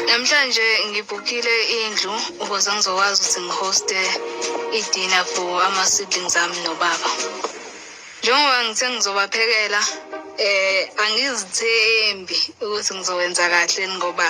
Namhlanje ngibhukile indlu ukuze ngizokwazi ukuthi ngihoste i-dinner for ama-siblings ami nobaba. Njengoba ngithe ngizobaphekela eh angizithembi ukuthi ngizokwenza kahle ngoba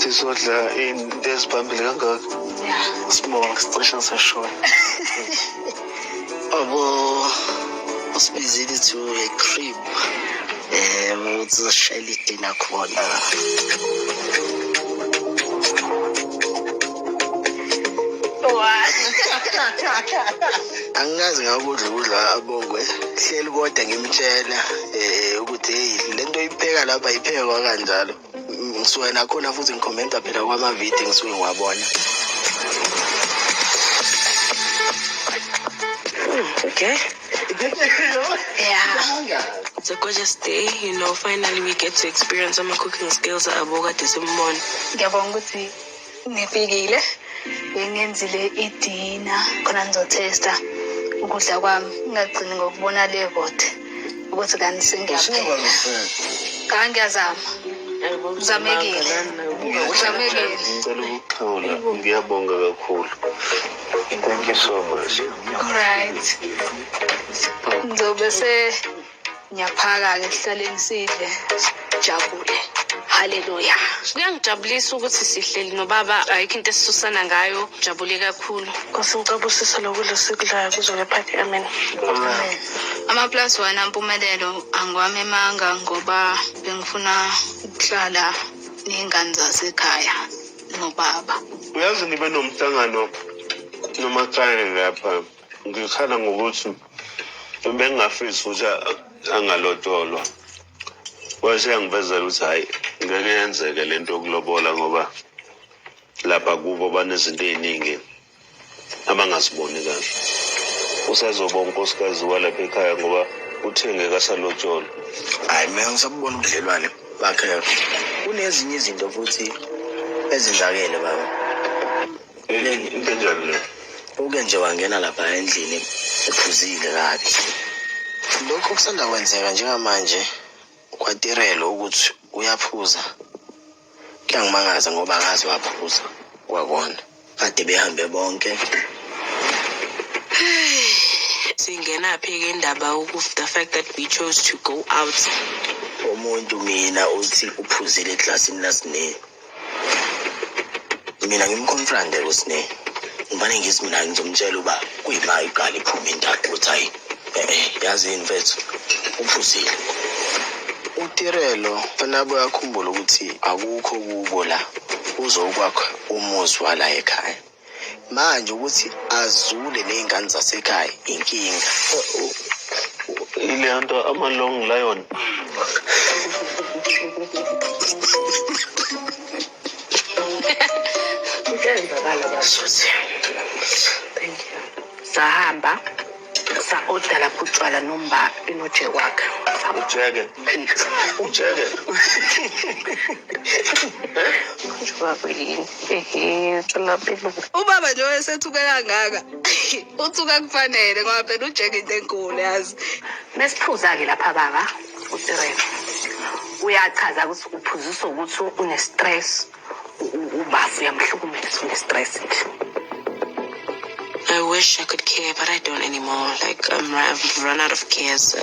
sizodla into ezibambile kangaka sibonga sicishe sashona abo usibizile to a crib um ukuthi uzoshalela idina khona angikazi ngakudla ukudla abongwe hleli kodwa ngimtshela um ukuthi heyi le nto ipheka lapha iphekwa kanjalo ngisuke nakhona futhi ngikhomenta phela kwamavidiyo ngisuke ngiwabona okay yeah It's a gorgeous day, you know, finally we get to experience some cooking skills at Aboga Disimon. Ngiyabonga ukuthi Ngifikile bengenzile idina khona ngizothesta ukudla kwami ngingagcini ngokubona le vote ukuthi kanti sengiyaphela cha ngiyazama uzamekile uzamekile ngicela ukuxhawula ngiyabonga kakhulu thank you so much alright ngizobe se ngiyaphaka-ke sihlaleni sidle sijabule haleluya kuyangijabulisa ukuthi sihleli nobaba ayikho into esisusana ngayo jabule kakhulu nkosi ngicaba usiso lokudla osikudlayo kuzoke phakhe amen ama-plus one ampumelelo angiwami emanga ngoba bengifuna ukuhlala ney'ngane zasekhaya nobaba uyazi nibe nomhlangano nomakhaya lapha ngikhala ngokuthi bengingafisi ukuthi angalotsholwa wase yangivezela ukuthi hhayi ngeke yenzeke le nto yokulobola ngoba lapha kubo banezinto ey'ningi abangaziboni kahle usazoba unkosikazi walapha ekhaya ngoba uthenge kasalotsholwa hhayi mina ngisabubona ubudlelwane bakhe kunezinye izinto futhi ezenzakele baba into enjani le uke nje wangena lapha endlini ephuzile kabi lokho kusanda kwenzeka njengamanje kwatirelo ukuthi uyaphuza kuyangimangaza ngoba akazi waphuza kwakona kade behambe bonke singenaphi ke indaba ukuthi the fact that we chose to go out umuntu mina uthi uphuzile eklasini lasinini mina ngimconfronte kusine ngibane ngisi mina ngizomtshela uba kuyima iqala iphuma indaba ukuthi hayi eh yazi yini mfethu uphuzile utirelo fanele abuye akhumbule ukuthi akukho kubo la uzokwakha umuzi wala ekhaya manje ukuthi azule ney'ngane zasekhaya inkinga ile nto ama-long lion kuyenzakala basuthi sahamba sa order lapho utshwala nomba inoje wakhe ujeke ujeke ubaba nje oyesethuke kangaka uthuka kufanele ngoba phela ujeke into enkulu yazi mesiphuza-ke lapha baba utirele uyachaza ukuthi uphuziswa ukuthi unestress ubafo uyamhlukumeza une-stress ngisho I wish I could care, but I don't anymore. Like, I'm, I've run out of care, so.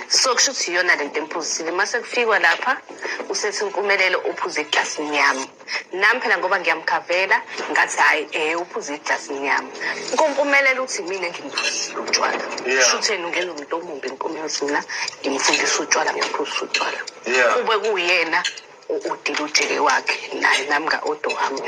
so kusho ukuthi iyona lento emphuzisile uma sekufikwa lapha usethi impumelelo uphuze eglasini yami nami phela ngoba ngiyamkhavela ngathi hhayi um uphuze eglasini yami kompumelelo uthi mina ngimphuzisile utshwala kusho ukuthi yena ungena umuntu omumbi nkomi yothina ngimfundisa utshwala ngimphuzisa utshwala kube kuyena udila ujele wakhe naye nami nga-odo wami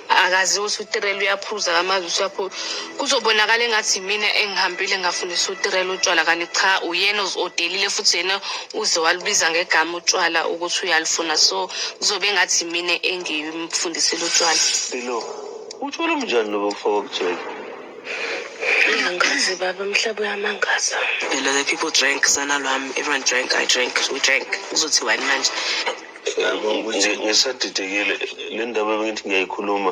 akazi ukuthi utirela uyaphuza kamazi usuyaphuza kuzobonakala engathi mina engihambile ngafundisa utirela utshwala kanti cha uyena odelile futhi yena uze walubiza ngegama utshwala ukuthi uyalufuna so kuzobe engathi mina engimfundisile utshwala utshwala umnjani lobo kufaka ukujela Angazi baba umhlaba uyamangaza. Phela the people drank sana lwami everyone drank I drank we drank uzothi wani manje. Ngiyabonga ukuthi ngisadidekile le ndaba bengithi ngiyayikhuluma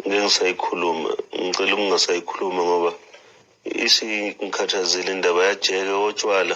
ngengisayikhuluma ngicela ukungasayikhuluma ngoba isingikhathazile indaba yajeke otshwala.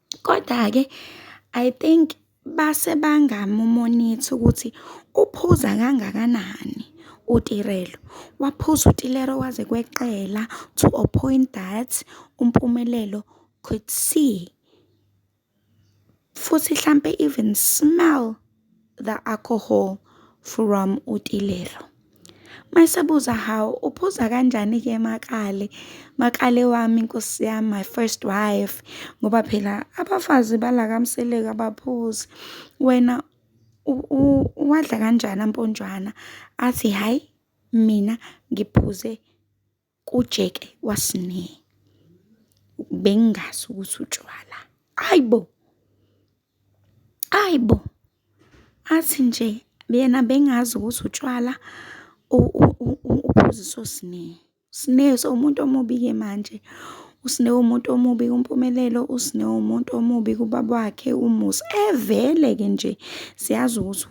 Koda-ke I think base bangamumonitha ukuthi uphuza kangakanani uTirelo. Waphuza uTilero kwaze kweqela to a point that uMpumelelo could see futhi hlampe even smell. The Alcohol from uTilelo. Mayisabuza hawu uphuza kanjani ke makale makale wami nkosi yami my first wife ngoba phela abafazi bala kamseleka baphuzi wena uwadla kanjani amponjwana athi hhayi mina ngiphuze kujeke kwasine bengingazi ukuthi utshwala ayi bo ayi bo athi nje yena bengazi ukuthi utshwala uphuziswa usine usine umuntu omubi-ke manje usine umuntu omubi kumpumelelo usine umuntu omubi kubaba wakhe umusa evele-ke nje siyazi ukuthi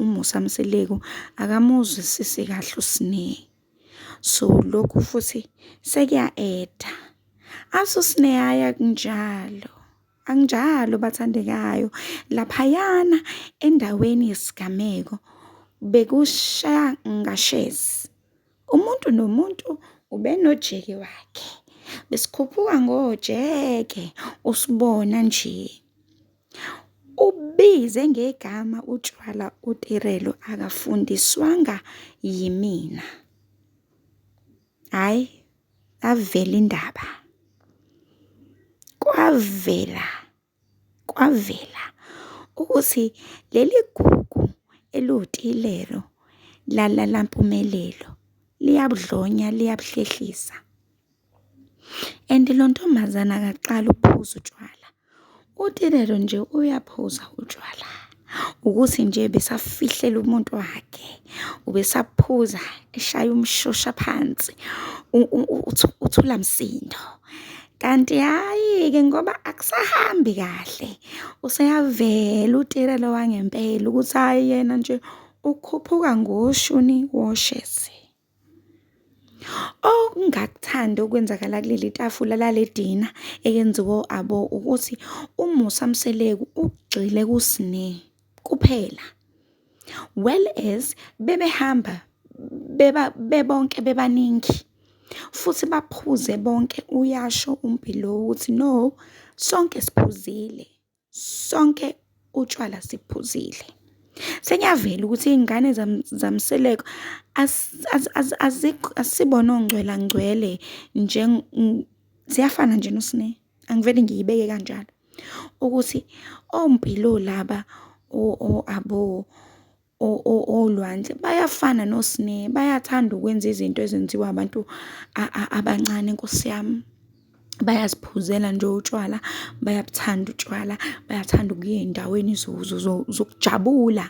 umusa mseleku akamuzwisisi kahle usine So lokhu futhi sekuya eda. Asusneyaya kunjalo. Anginjalo bathandekayo. Laphayana endaweni yesigameko bekushaya ngashezi. Umuntu nomuntu ubenojeke wakhe. Besikhuphuka ngojeke usibona nje. Ubize ngegama utshwala uTirelo akafundiswanga yimina. Hhayi yavela indaba. Kwavela, kwavela ukuthi leli gugu eliwuTilelo lala laMpumelelo liyabudlonya, liyabuhlehlisa. And lo ntombazane akaqali ukuphuza utshwala, uthi lelo nje uyaphuza utshwala ukuthi nje besafihlela umuntu wakhe, ubesaphuza eshaya umshosha phansi uthula msindo. Kanti hhayi-ke ngoba akusahambi kahle useyavela utirelo wangempela ukuthi hhayi yena nje ukhuphuka ngoshuni woshezi. Okungakuthandi okwenzakala kuleli tafula lale dina eyenziwe o-Abo ukuthi uMusa Mseleku ugxile kuSne kuphela well as bebehamba bebonke bebaningi futhi baphuze bonke, uyasho uMbhilo ukuthi no sonke siphuzile. sonke utshwala siphuzile. Sengiyavela ukuthi iy'ngane zamseleko asibona ongcwela ngcwele ziyafana nje noSne, angivele ngiyibeke kanjalo ukuthi oMpilo laba o-Abo olwandle bayafana nosne bayathanda ukwenza izinto ezenziwa abantu abancane nkosi yami bayaziphuzela nje utshwala bayabuthanda utshwala bayathanda ukuya ezindaweni zokujabula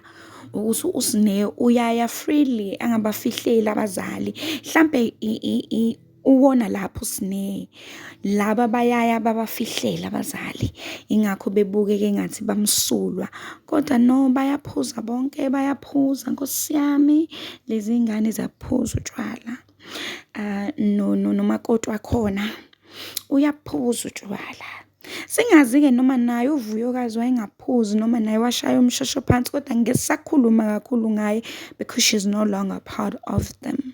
ukuthi usne uyaya freely angabafihleli abazali hlampe . Uwona lapho sine laba bayaya babafihlela abazali ingakho bebukeke engathi bamsulwa kodwa no bayaphuza bonke bayaphuza nkosi yami lezi ngane zaphuza utshwala uh, no no nomakoti wakhona uyaphuza utshwala Singazi-ke noma naye uVuyokazi wayengaphuzi noma naye washaya umshosho phansi kodwa ngeke sisakhuluma kakhulu ngaye because she's no longer part of them.